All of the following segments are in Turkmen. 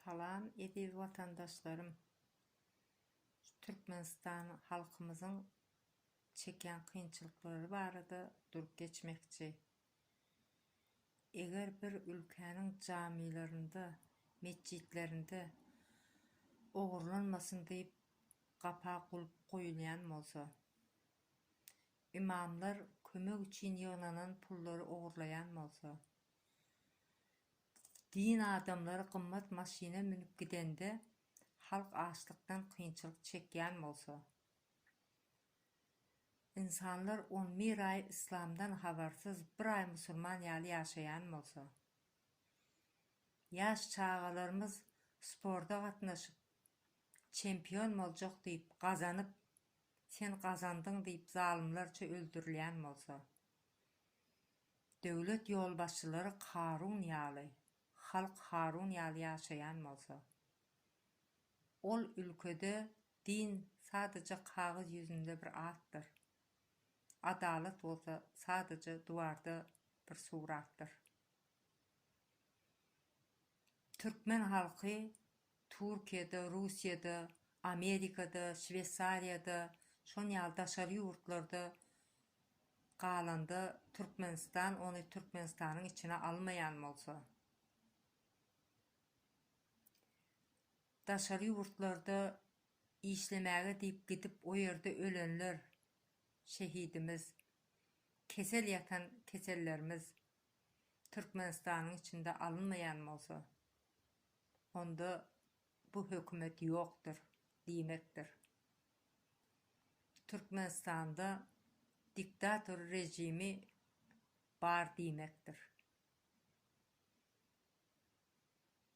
Salam eziz watandaşlarym! Şu Türkmenistan halkymyzyň çekýän kynçylyklary barada durup geçmekçi. Eger bir ülkäniň jamilerinde, metjitlerinde ogurlanmasyn diýip gapa gulp goýulýan bolsa, ymamlar kömek üçin ýygnanan pullary ogurlaýan bolsa, Din adamlary gymmat maşyna münüp gidende, halk açlykdan kynçylyk çekýän bolsa, ynsanlar on bir aý yslamdan habarsyz, bir aý musulman ýaly ýaşaýan bolsa, ýaş çagalarymyz sporda gatnaşyp, çempion boljak diýip, gazanyp, sen gazandyň diýip zalymlarça öldürilýän bolsa, Döwlet ýolbaşçylary Karun ýaly, halk Harun ýaly ýaşaýan bolsa, ol ülkede din sadaja kagyz ýüzünde bir atdyr, adalat bolsa sadaja duwarda bir suratdyr. Türkmen halky Türkiýede, Russiýada, Amerikada, Şweýsariýada, şon ýaly daşary ýurtlarda galanda Türkmenistan ony Türkmenistanyň içine almaýan bolsa, daşary ýurtlarda işlemäge diýip gidip o ýerde ölenler, şehidimiz, kesel ýatan kesellerimiz Türkmenistanyň içinde alynmaýan bolsa, onda bu hökümet ýokdur diýmekdir. Türkmenistanda diktator režimi bar diýmekdir.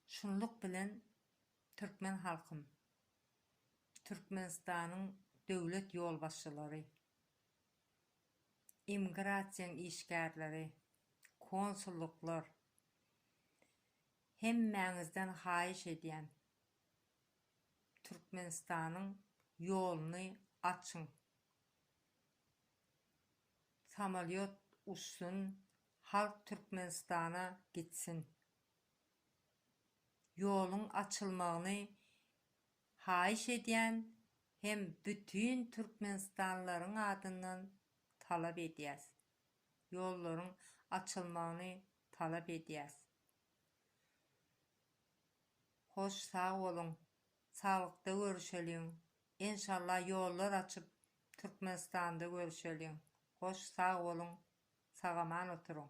Şunluk bilen türkmen halkym, Türkmenistanyň döwlet ýolbaşçylary, immigrasiýaň işgärleri, konsulluklar, Hemmäňizden haýyş edýän Türkmenistanyň ýoluny açyň. Samalýot uçsun halk Türkmenistana gitsin. Ýoluň açylmagyny haýyş edýän hem bütin Türkmenistanlylaryň adyndan talap edýäs. ýollaryň açylmagyny talap edýäs. Hoş sag boluň, saglykda görüşeliň, enşalla ýollar açyp Türkmenistanda görüşeliň, hoş sag boluň, sagaman oturyň.